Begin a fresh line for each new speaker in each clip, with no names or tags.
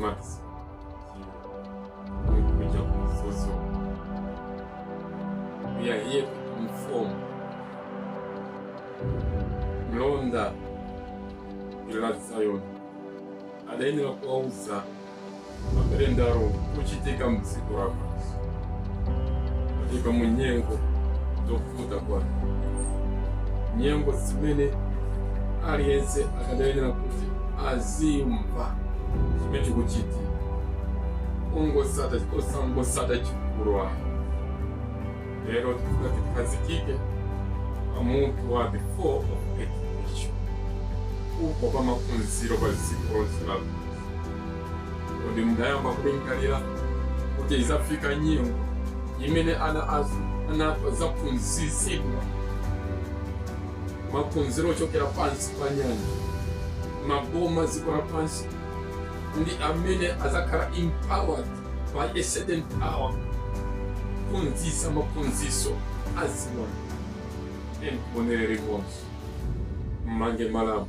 Max. Kuja kumfuzu. We are here to inform. Mlonda wa Zion adayenera kuwauza makalenda akuchitika mtsiku lako makamaka munyengo zathu yakwana nyengo zimene aliyense akadayenera kuti azimva chimene chikuchitika ongosata osangosata chikulu ayi lero tifuna tikhazikike pamutu wa the fall of education kugwa kwa maphunziro pa dziko lonse la Kodi munayamba kulingalira kuti idzafika nyengo imene ana athu adzaphunzitsidwa maphunziro ochokera pansi pa nyanja, maboma a dziko lapansi, ndi amene adzakhala empowered by a certain power kuphunzitsa maphunziro a ziwanda? Tionere limodzi, mmange malambo.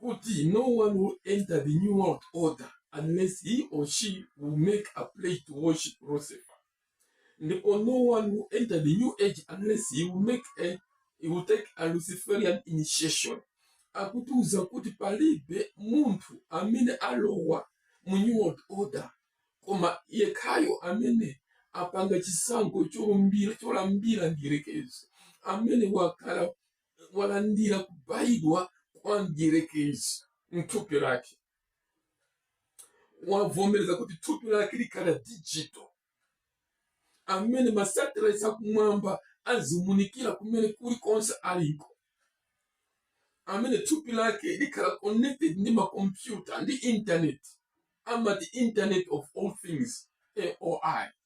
kuti no one will enter the new world order unless he or she will make a pledge to worship Lucifer and no one will enter the new age unless he will make a he will take a luciferian initiation akutiuza kuti palibe munthu amene alowa mu new world order koma yekhayo amene apanga chisankho cholumbira cholambira mdierekezi amene wakhala walandira kubayidwa kwa mdierekezi mthupi lake wavomereza kuti thupi lake likhala digital amene masatellite akumwamba azimunikira kumene kulikonse aliko amene thupi lake likhala connected ndi makompyuta ndi internet amati internet of all things IoT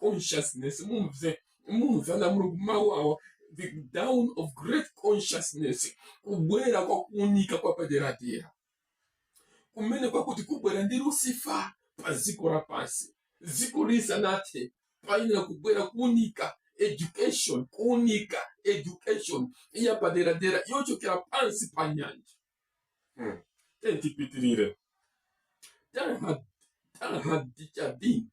consciousness mumve mumve nawo mawu awa the dawn of great consciousness kubwera kwa kuunika kwa paderadera kumene kwakuti kubwera ndi lusifa pa dziko lapansi dziko lisanathe payenera kubwera kuunika education kuunika education ya paderadera yochokera pansi pa nyanja Hmm. Tiyeni tipitirire. Teilhard- Teilhard de Chardin,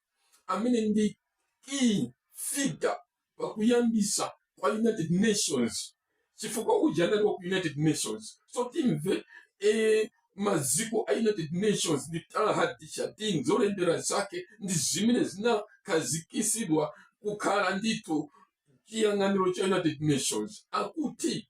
amene ndi key figure pakuyambisa kwa United Nations. Chifukwa uja anali wa ku United Nations. So timve eh, maziko a United Nations ndi Teilhard de Chardin zolembera zake ndi zimene zinakhazikisidwa kukhala ndithu chiyang'aniro cha United Nations. Akuti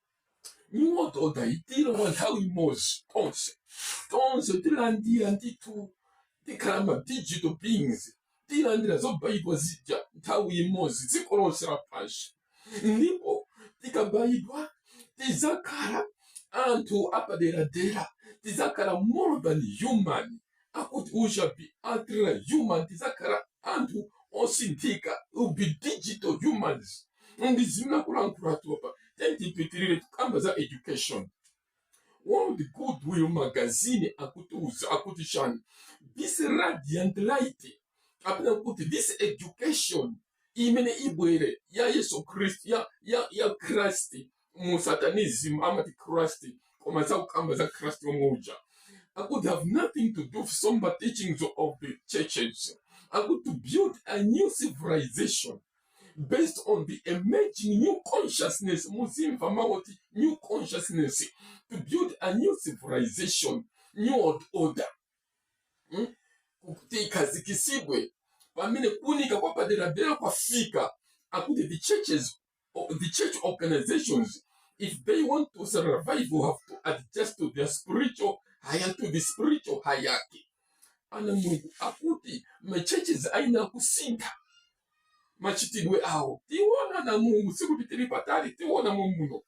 iwo tidzaunikiridwa nthawi imodzi tonse tonse tilandira ndithu tikhala ma digital beings tilandira zobayidwa zija nthawi imodzi dziko lonse lapansi ndipo tikabayidwa tizakhala anthu apaderadera tizakhala more than human akuti you shall be ultra human tidzakhala anthu osinthika will be digital humans ndi zimene akulankhulatu apa then tipitirire tikamba za education World Goodwill magazine akutiuza kuti akuti chani this radiant light kapena kuti this education imene ibwere ya yesu khristu ya, ya, ya christ mu satanism amati christ koma sakukamba za christ womwe uja akuti have nothing to do with somber teachings of the churches. akuti to build a new civilization based on the emerging new consciousness, muziwamva mawu oti, new consciousness, to build a new civilization, new world order. hmm? kuti ikhazikitsidwe pamene kuunika kwapaderadera kwafika akuti the churches the church organizations if they want to survive will have to adjust to their spiritual higher to the spiritual hierarchy ana mulungu akuti machurches ayenera kusintha machitidwe awo tiona ana mulungu sikuti tili patali tiona mwamuno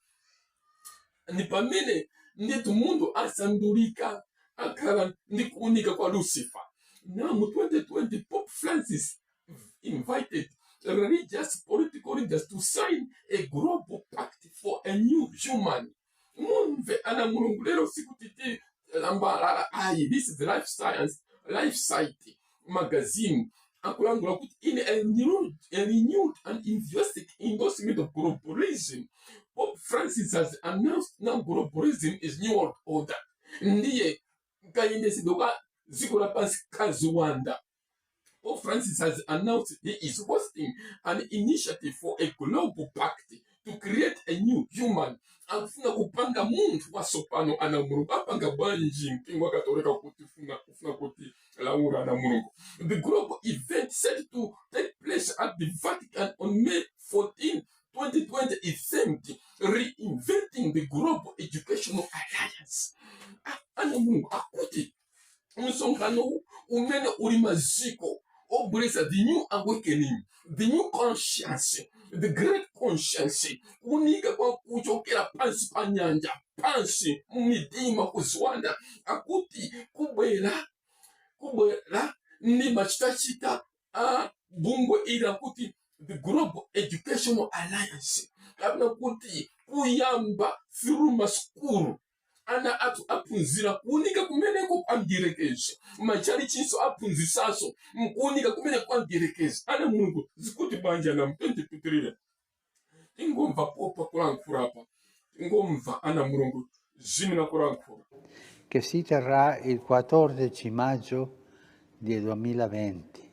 ndi pamene ndithu munthu asandulika akhala ndi kuunika kwa lucifer now mu 2020 pope francis invited religious political leaders to sign a global pact for a new human mumve ana mulungu lero sikuti ti lambalala ayi this is life science life site magazine akulankhula kuti in a renewed, a renewed and enthusiastic endorsement of globalism pope francis has announced now globalism is new world order ndiye kayendetsedwe ka dziko lapansi kaziwanda Pope Francis has announced he is hosting an initiative for a global pact to create a new human akufuna kupanga munthu watsopano ana mulungu apanga bwanji mpingo wa katolika ukufuna kutiulula ana mulungu the global event set to take place at the vatican on may 14 2020 is themed reinventing the global educational alliance Ah, ana mulungu akuti msonkhano umene uli maziko obweretsa the new awakening the new conscience the great conscience kuunika kwa kuchokera pansi pa nyanja pansi mumidima kuziwanda akuti kubwera kubwera ndi machitachita a bungwe ili akuti the global educational alliance kapena kuti kuyamba through masukulu ana athu aphunzira kuunika kumeneko kwa mdierekezi matchalichinso aphunzisanso mkuunika kumene kwa mdierekezi ana mulungu zikuti bwanji ana tiyeni tipitirire tingomva pope akulankhula apa tingomva ana mulungu zimene akulankhula che si terrà il 14 maggio del 2020.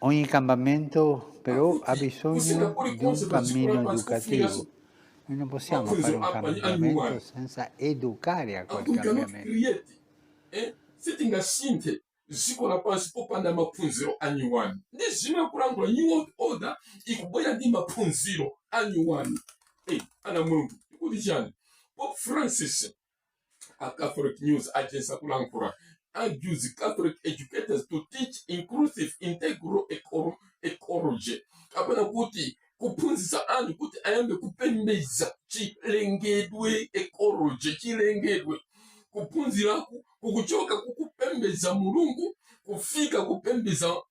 Ogni cambiamento però ha bisogno di un cammino educativo. Noi non possiamo fare un cambiamento senza educare a quel cambiamento. sitingasinthe dziko lapansi popanda maphunziro a nyuwani ndi zimene akulankhula new world order ikubwera ndi maphunziro a nyuwani hey, ana mulungu akuti chani pope francis a Catholic news agency akulankhula urges Catholic educators to teach inclusive integral eco- ecology kapena kuti kuphunzitsa anthu kuti ayambe kupembedza chilengedwe ecology chilengedwe kuphunziraku kukuchoka kukupembedza mulungu kufika kupembedza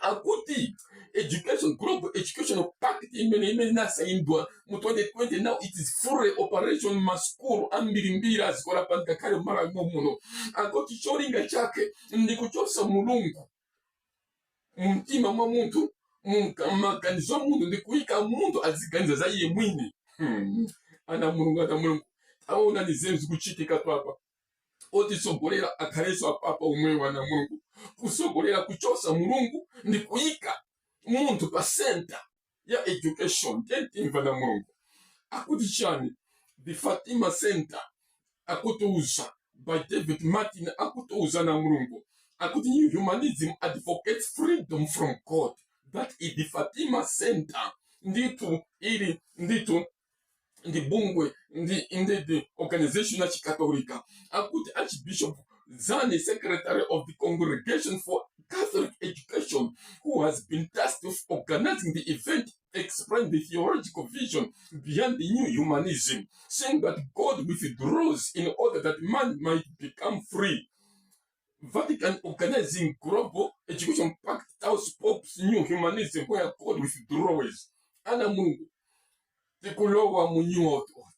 Akuti education, global education pact imene imene inasaindwa mu 2020 now it is fully operation maskulu ambirimbiri adziko lapansi ngakhale mmalawi momuno akuti cholinga chake ndi kuchotsa mulungu mumtima mwa munthu munka- m'maganizo a munthu ndi kuyika munthu aziganiza za iye mwini hmm. ana mulungu ana mulungu taonani zinthu zikuchitika papa otitsogolera akhalenso apapa omwewo ana mulungu kutsogolera kuchotsa mulungu ndi kuyika munthu pa center ya education tiyeni timve ana mulungu akuti chani the fatima center akutiuza by david martin akutiuza ana mulungu akuti new humanism advocates freedom from god that is the fatima center ndithu ili ndithu ndi bungwe ndi indedi organization ya chikatolika akuti archbishop zani secretary of the congregation for catholic education who has been tasked with organizing the event explained the theological vision behind the new humanism saying that god withdraws in order that man might become free Vatican Organizing Global Education Pact Touts Pope's New Humanism Where God Withdraws. Ana Mulungu, tikulowa mu New World Order.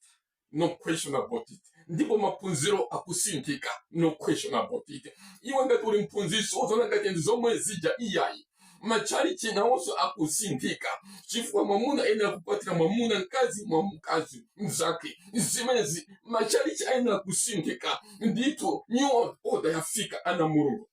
No question about it. Ndipo maphunziro akusinthika. No question about it. Iwe ngati uli mphunzitsi, uziona ngati ndi zomwe zija iyayi. matchalitchi nawonso akusinthika chifukwa mwamuna ayenera kukwatira mwamuna mkazi mwa mkazi mzake zimenezi matchalitchi ayenera kusinthika ndithu new World order yafika ana a Mulungu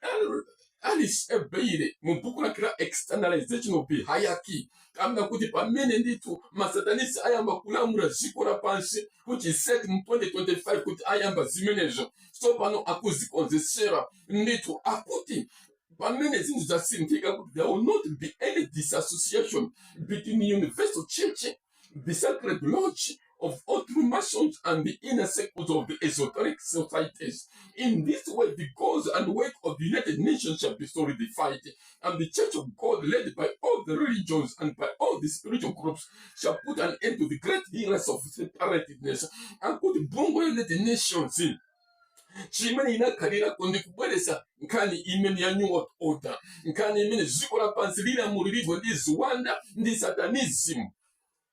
Al- Alice Bailey mu buku lake la externalization of the hierarchy Akamba kuti pamene ndithu ma Satanists ayamba kulamula dziko lapansi kuti is it mu 2025 kuti ayamba zimenezo, tsopano akuzikonzetsera ndithu, akuti pamene zinthu zasinthika kuti there will not be any disassociation between universal church, the sacred lodge, of all true masons and the inner circles of the esoteric societies. In this way, the goals and work of the United Nations shall be solidified, and the Church of God, led by all the religions and by all the spiritual groups, shall put an end to the great heresy of separateness and kuti bungwe la United Nations chimene inakhalirako ndi kubweretsa nkhani imene ya new world order nkhani imene dziko lapansi lilamuliridwe ndi ziwanda ndi satanism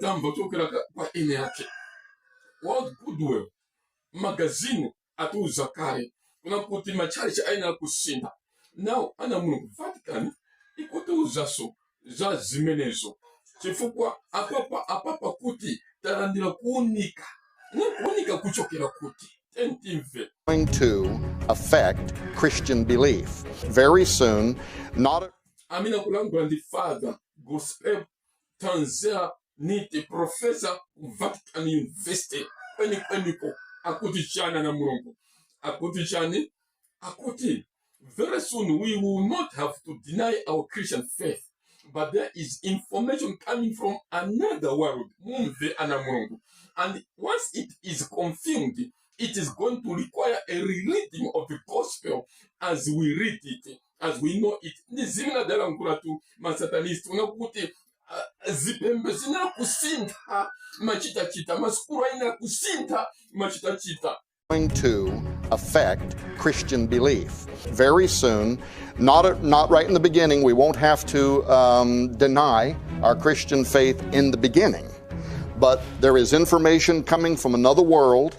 tamva kuchokera ka- kwa eni ake world goodwill magazini atiuza kale kunena kuti matchalichi ayenera kusintha nawo ana a Mulungu vatican ikutiuzanso za zimenezo chifukwa apapa apapa kuti talandira kuunika ndi kuunika kuchokera kuti tiyeni timve amene akulankhula ndi father gospel tanzera nite profesa ku vatican university kwenikweniko akuti chani ana mulungu akuti chani akuti very soon we will not have to deny our christian faith but there is information coming from another world mumve ana mulungu and once it is confirmed it is going to require a reading of the gospel as we read it as we know it ndi zimene adalankhuliratu masatanist kunena kuti ah, zipembedzo ziyenera kusintha machitachita masukulu ayenera kusintha machitachita going to affect Christian belief. Very soon, not, not right in the beginning, we won't have to um, deny our Christian faith in the beginning. But there is information coming from another world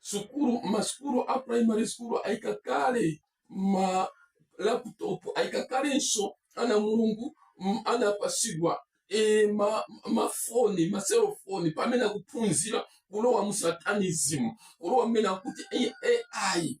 sukulu masukulu a primary school ayika kale ma laptop ayika kalenso ana a Mulungu m- anapatsidwa e, ma, mafoni maselofoni pamene akuphunzira kulowa mu satanism kulowa mmene akuti ai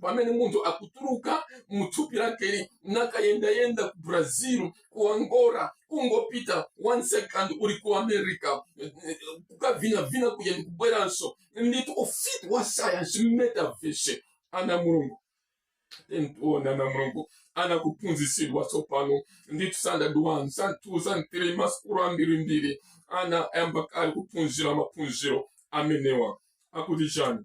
pamene munthu akutuluka mu thupi lakeli nakayendayenda ku brazil ku angola kungopita one second uli ku america eh, eh, kukavinavina kuja ndi kubweranso ndithu ufiti wa sayansi metaverse ana a Mulungu tiona ana a Mulungu ana akuphunzitsidwa tsopano ndithu standard 1 standard 2 standard 3 masukulu ambirimbiri ana ayamba kale kuphunzira maphunziro amenewa akuti chani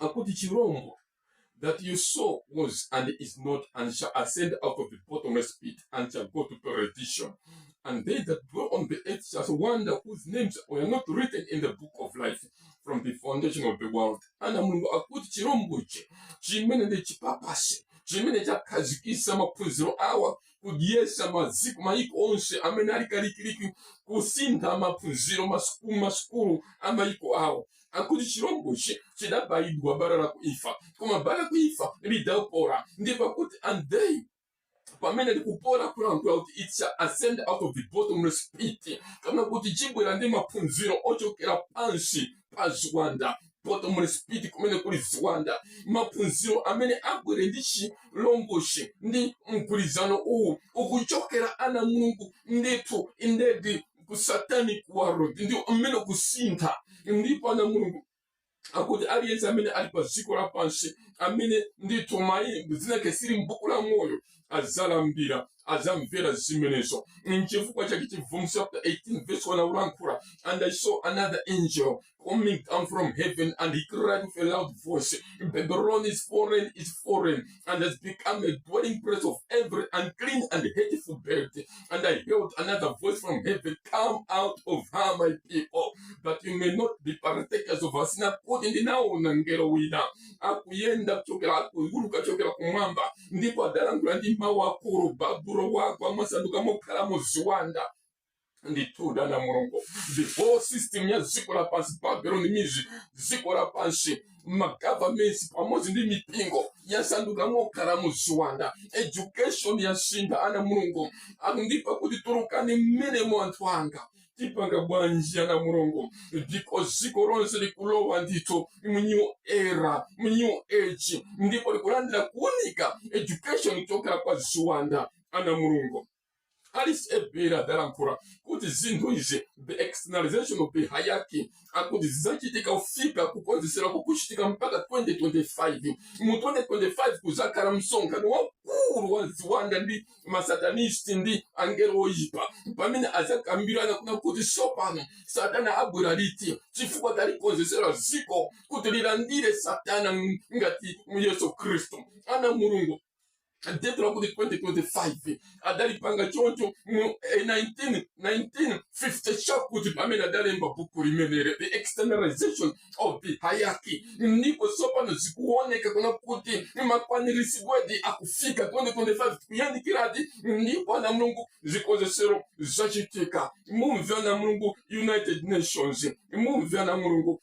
akuti chirombo that you saw was and is not and shall ascend out of the bottomless pit and shall go to perdition and they that dwell on the earth shall wonder whose names were not written in the book of life from the foundation of the world ana mulungu akuti chirombochi chimene ndi chipapa chimene chakhazikisa maphunziro awa kudyesa maziko mayiko onse amene ali kalikiliki kusintha maphunziro masukulu masukulu a mayiko awo akuti chilombochi chidabayidwa bala la kuifa koma bala la kuifa lidapola ndi pakuti ande pamene likupola kulankhula kuti it shall ascend out of the bottomless pit kapena kuti chibwera ndi maphunziro ochokera pansi pa ziwanda bottomless pit komwe kuli ziwanda maphunziro amene abwere ndi chilombochi ndi mgwirizano uwu ukuchokera ana mulungu ndithu indeed ku satanic world ndi mmene kusintha ndipo ana mulungu akuti aliyense amene ali pa dziko lapansi amene ndithu mayi- dzina lake sili m'buku la moyo adzalambira adzamvera zimenezo nchifukwa chake chivumbulutso chapter 18 verse 1 akulankhula and i saw another angel coming down from heaven and he cried with a loud voice, Babylon is fallen, is fallen, and has become a dwelling place of every unclean and hateful bird. And I heard another voice from heaven, Come out of her, my people, that you may not be partakers of her sin. Akuti ndinaona mngelo wina akuyenda kuchokera akuuluka kuchokera kumwamba ndipo adalankhula ndi mawu akulu babulo wagwa wasanduka mokhalamo ziwanda ndithudi ana a mulungu the whole system ya dziko lapansi babeloni ndiye dziko lapansi magovernments pamodzi ndi mipingo yasanduka mokhalamo ziwanda education yasintha ana a mulungu akuti ndipo akuti tulukani mmenemo anthu anga tipanga bwanji ana a mulungu ndipo dziko lonse likulowa ndithu mu new era mu new age ndipo likulandira kuunika education kuchokera kwa ziwanda ana a mulungu Alice Bailey adalankhula kuti zinthu izi the externalization of the hierarchy akuti zidzachitika kufika kukonzetsera kukuchitika mpaka 2025 mu 2025 kuzakhala msonkhano waukulu wa ziwanda ndi masatanisti ndi angelo oyipa pamene azakambirana kunena kuti tsopano satana abwera liti chifukwa talikonzetsera dziko kuti lilandire satana ngati yesu khristu ana mulungu date lakuti 2025 adalipanga choncho mu 1950 chakuti pamene adalemba buku limeneli the externalization of the hierarchy ndipo tsopano zikuoneka kunena kuti makwaniritsidwedi akufika 2025 kuyandikiradi ndipo ana mulungu zikonzetsero zachitika mumve ana mulungu united nations mumve ana mulungu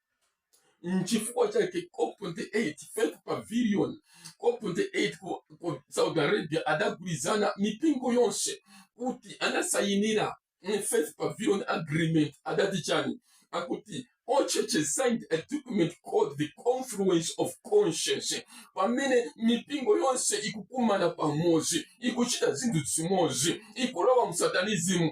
nchifukwa chake cop 28 faith pavilion cop 28 ku, ku saudi arabia adagwirizana mipingo yonse kuti anasayinira mm, faith pavilion agreement adati chani akuti all churches signed a document called the confluence of conscience pamene mipingo yonse ikukumana pamodzi ikuchita zinthu zimodzi ikulowa msatanizimu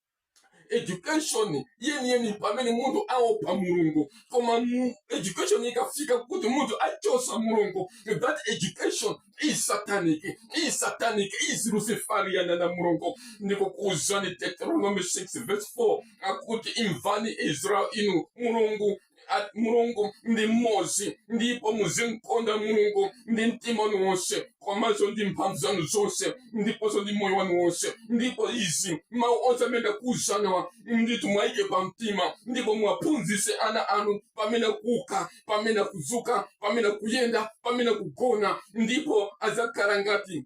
education yeniyeni pamene munthu aopa mulungu koma education ikafika kuti munthu achosa mulungu that education is satanic is satanic is luciferian ana a mulungu ndikukuuzani deuteronomy 6 verse 4 akuti imvani israel inu mulungu mulungu ndi mmodzi ndipo muzimkonda mulungu ndi mtima wanu wonse komanso ndi mphamvu zanu zonse ndiponso ndi moyo wanu wonse ndipo izi mawu onse amene ndakuuzanawa ndithu muwaike pa mtima ndipo muwaphunzitse ana anu pamene kuuka pamene kudzuka pamene kuyenda pamene kugona ndipo adzakhala ngati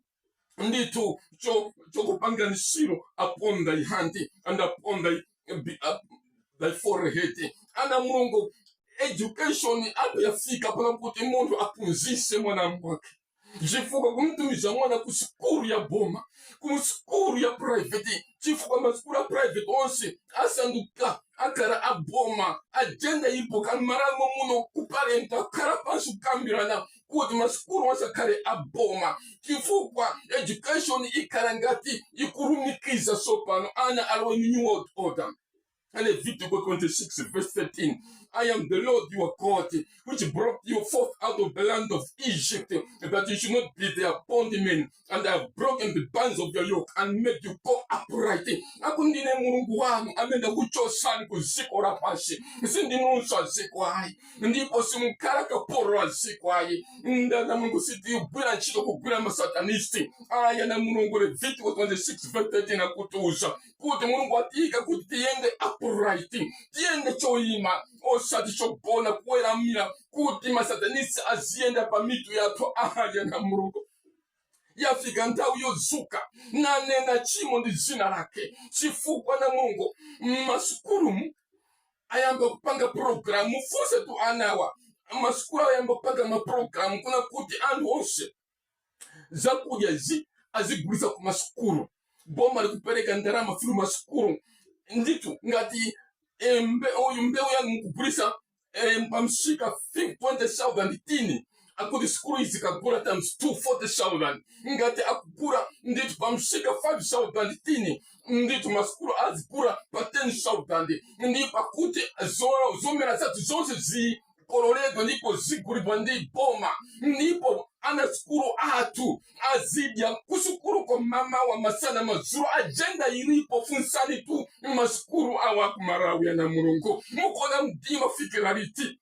ndithu cho- chokupangani seal upon thy hand and upon thy, be- uh, thy forehead ana a mulungu education apo yafika pano kuti munthu aphunzise mwana mwake chifukwa kumtumiza mwana ku sikulu ya boma ku sikulu ya private chifukwa masikulu ya private onse asanduka akhala aboma agenda ipo kamaramo muno kuparenta khala pansi kukambirana kuti masukulu asakhale aboma chifukwa education ikhala ngati ikulumikiza tsopano ana alowe mu new world order Levitiko 26, verse 13. I am the Lord your God, which brought you forth out of the land of Egypt, that you should not be their bondmen. and I have broken the bands of your yoke and made you go upright. Akuti ndine mulungu wanu amene ndakuchotsani ku dziko lapansi, sindinunso a dziko ayi, ndipo simukhala kapolo wa dziko ayi. Nde ana a mulungu sitigwira ntchito kugwirira masatanisti. Ayi ana a mulungu Levitiko 26 verse 13 akutiuza kuti mulungu watiyika kuti tiyende upright, tiyende choyima osati chogona kuweramira kuti masatanisti aziyenda pa mitu yathu. Ayi ana a mulungu yafika nthawi yodzuka nkunena chimo ndi dzina lake chifukwa ana a mulungu mmasukulumu ayamba kupanga pulogalamu mufunsetu anawa masukulu ayamba kupanga mapulogalamu kunena kuti anthu onse zakudya zi azigulisa ku masukulu boma likupereka ndalama fulu masukulu nditu ngati eh, mbe- uyu mbewu yanu mukugulisa eh, pamsika 20000 tini akuti sikulu izikagula times 2 40000 ngati akugula ndithu pamsika 5000 tini ndithu masukulu azigula pa 10000 ndi pakuti zo- zomera zathu zonse zikololedwa ndipo zigulidwa ndi boma ndipo ana sikulu athu azidya kusukuluko mamawa masana madzulo ajenda ilipo funsanitu masukulu awa kumalawi ana mulungu mukuona mdima fikira liti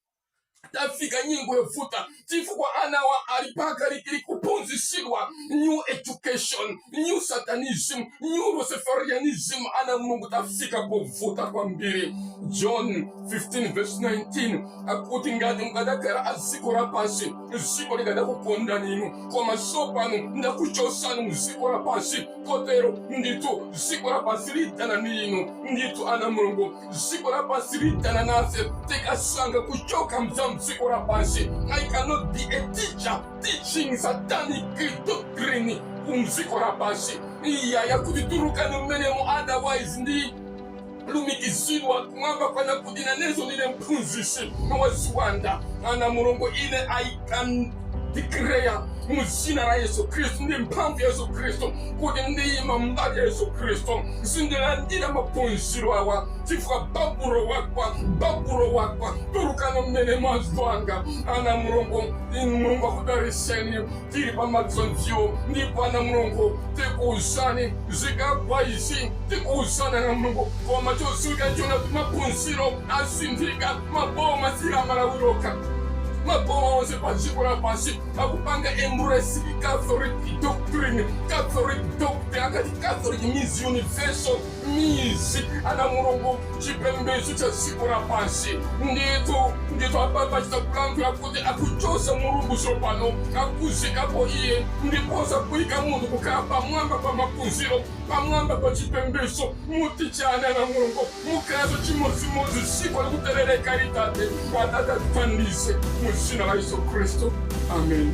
tafika nyengo yovuta chifukwa anawa ali pakalikili kuphunzisidwa new education new satanism new luciferianism ana mulungu tafika povuta kwambiri john 15 verse 19 akuti ngati mukadakhala aziko lapansi dziko likadakukondani inu koma tsopano ndakuchotsani mu dziko lapansi kotero ndithu dziko lapansi lidana ndi inu ndithu ana mulungu dziko lapansi lidana nafe tikasankha kuchoka mza mdziko lapansi i cannot be a teacher teaching satanic doctrine kumdziko lapansi iyayi akuti tulukani mmenemo otherwise ndi lumikizidwa kumwamba kunena kuti nanenso ndine mphunzitsi wa ziwanda ana mulungu ine i can declare mu dzina la yesu khristu ndi mphamvu ya yesu khristu kuti ndiyima mbali ya yesu khristu sindilandira maphunziro awa chifukwa babulo wakwa babulo wakwa tulukani mmenemo anzanga ana mulungu inu mulungu akudaliseni tili pa matsanzio ndithu ana mulungu tikuuzani zikagwa izi tikuuzana ana mulungu koma chodziwika chonena kuti maphunziro asinthika maboma si la malawi lokha maboma onse pa dziko lapansi akupanga embrace catholic doctrine catholic doctrine akati catholic means universal means ana Mulungu chipembedzo cha dziko lapansi ndithu ndithu apapa chitakulankhula kuti akuchosa mulungu tsopano akuziikapo iye ndiponso kuika munthu kukhala pamwamba pa maphunziro pamwamba pa chipembedzo muti chani ana mulungu mukhalanso chimodzimodzi dziko likuterereka ili tate wathu atithandize mu dzina la yesu khristu amen